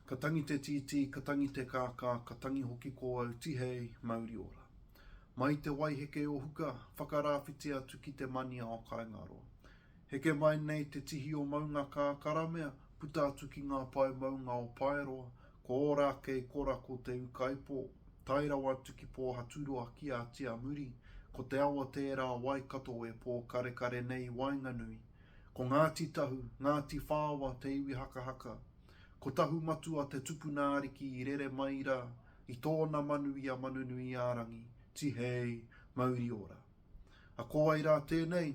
Ka tangi te tītī, ka tangi te kākā, ka tangi hoki ko au, tihei, mauri ora. Mai te waiheke o Huka, whakarāwhiti atu ki te mania o Kaingaroa. Heke mai nei te tihi o Maungakā, karamea, puta atu ki ngā pae maunga o Paeroa, ko ora ake i kora ko Te Ukaipo, tae rawa atu ki Pōhaturoa ki Ātiamuri, ko te awa tērā Waikato e pōkarekare nei i waenganui, Ko Ngāti Tahu, Ngāti Whaoa te iwi hakahaka. Ko Tahumatua te tupuna ariki i rere mai rā i tōna manu i a Manunuiārangi, Tihei, Mauriora. A ko wai rā tēnei?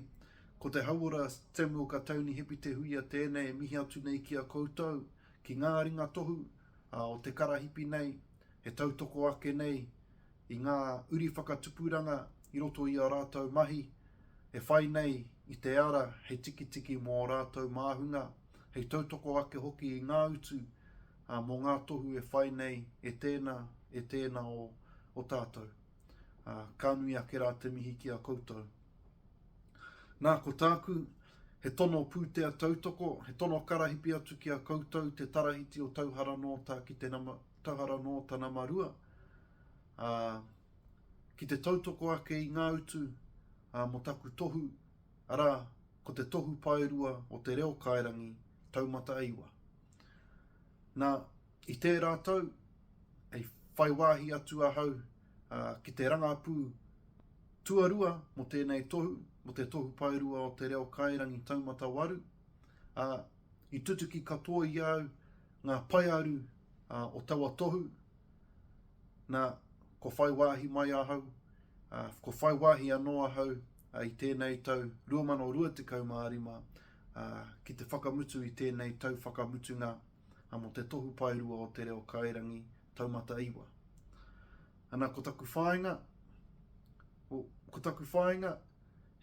Ko te hauora Samuel Katauni Hepitehuia tēnei e mihi atu nei ki a koutou, ki ngā ringa tohu, ā, o te karahipi nei, e tautoko ake nei i ngā uri whakatupuranga i roto i ā rātou mahi, e whai nei i te ara hei tikitiki mō ō rātou māhunga, hei tautoko ake hoki i ngā utu, ā, mō ngā tohu e whai nei e tēnā, e tēnā o, o tātou. Ā, ka nui ake rā te mihi ki a koutou. Nā, ko tāku, he tono pūtea tautoko, he tono karahipi atu ki a koutou te Tarahiti o Tauhara nō tā ki te nama, Tangara nō Tanamarua, ā, ki te tautoko ake i ngā utu, ā, mō taku tohu, arā, ko te tohu paerua o te reo kairangi taumata e iwa. Nā, i tērā tau, i whai wāhi atu ahau, ā, ki te rangapū tuarua mō tēnei tohu, mō te tohu paerua o te reo kairangi taumata waru, ā, i tutuki katoa i a au Ngā paearu o taua tohu, nā, kua whai wāhi mai ahau, ā, kua whai wāhi anō ahau i tēnei tau 2025, ā, ki te whakamutu i tēnei tau whakamutunga mō te Tohu Paerua o Te Reo Kairangi Taumata Iwa. Ana, ko taku whāinga, ko taku whāinga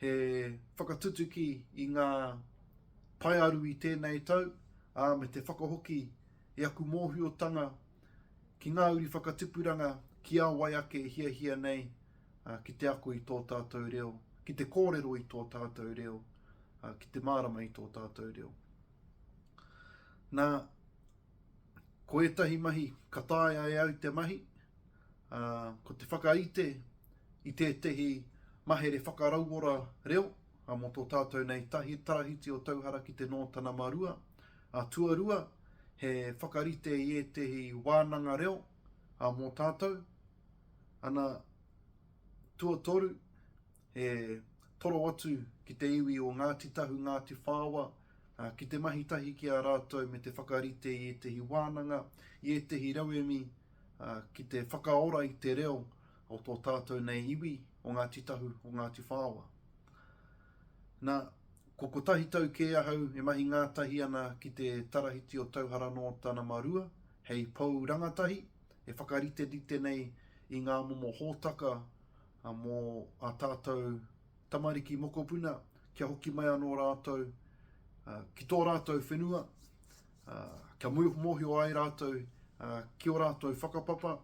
he whakatutuki i ngā Paearu i tēnei tau, ā, me te whakahoki i aku mōhiotanga ki ngā uri whakatipuranga ki a wai ake e hiahia nei ki te ako i tō tātou reo, ki te kōrero i tō tātou reo, ki te mārama i tō tātou reo. Nā, ko ētahi mahi ka taea e au te mahi, ā, ko te whakaite i tētahi mahere whakarauora reo, A mo to tatou nei tahi tarahiti o Tauhara ki te no tana ma rua, a tuarua he whakarite i etehi wananga reo, a mo tatou, ana tuatoru e toro atu ki te iwi o Ngati Tahu, Ngati Whaoa, a ki te mahi tahi ki a ratou me te whakarite i etehi wananga, i etehi rauemi, a ki te whakaora i te reo o tō tātou nei iwi, o Ngāti Tahu, o Ngāti Whaoa. Nā, ko kotahi tau kē ahau e mahi ngātahi ana ki te Tarahiti o Tauhara nō tana ma Rua, hei pou rangatahi, e whakariterite nei i ngā momo hōtaka mō ā tātou tamariki mokopuna, kia hoki mai anō rātou ki tō rātou whenua, kia mōhio ai rātou ki ō rātou whakapapa,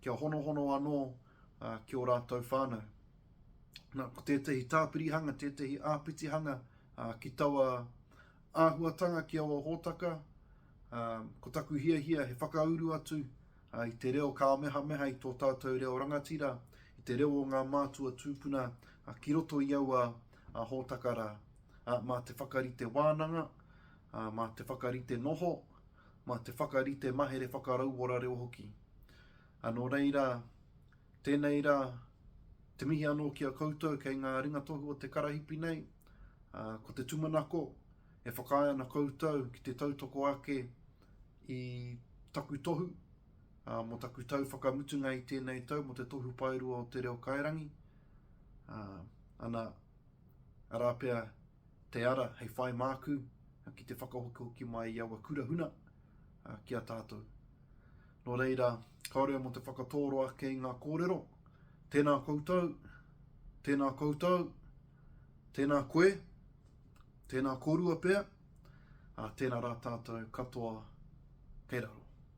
kia honohono anō ki ō rātou whānau. Nā, ko tētahi tāpirihanga, tētahi āpitihanga ki taua āhuatanga ki aua hōtaka, ko taku hiahia he whakauru atu i te reo kāmehameha i tō tātou reo rangatira, i te reo o ngā mātua tūpuna ki roto i aua hōtaka rā. Mā te whakarite wānanga, ā, mā te whakarite noho, mā te whakarite mahere whakarauora reo hoki. Ā, nō reira, tēnei rā, te mihi anō ki a koutou kei ngā ringatohu o te karahipi nei, ā, ko te tumanako e whakaae ana koutou ki te tautoko ake i taku tohu, ā, mō taku tau whakamutunga i tēnei tau mō te Tohu Paerua o Te Reo Kairangi, ā, ana, arā pea, Te ara hei whai māku ki te whakahokihoki mai i aua kura huna ki a tātou. Nō reira, kāore au mō te whakatōro ake i ngā kōrero. Tēnā koutou, tēnā koutou, tēnā koe, tēnā kōrua pea, ā, tēnā rā tātou katoa kei raro.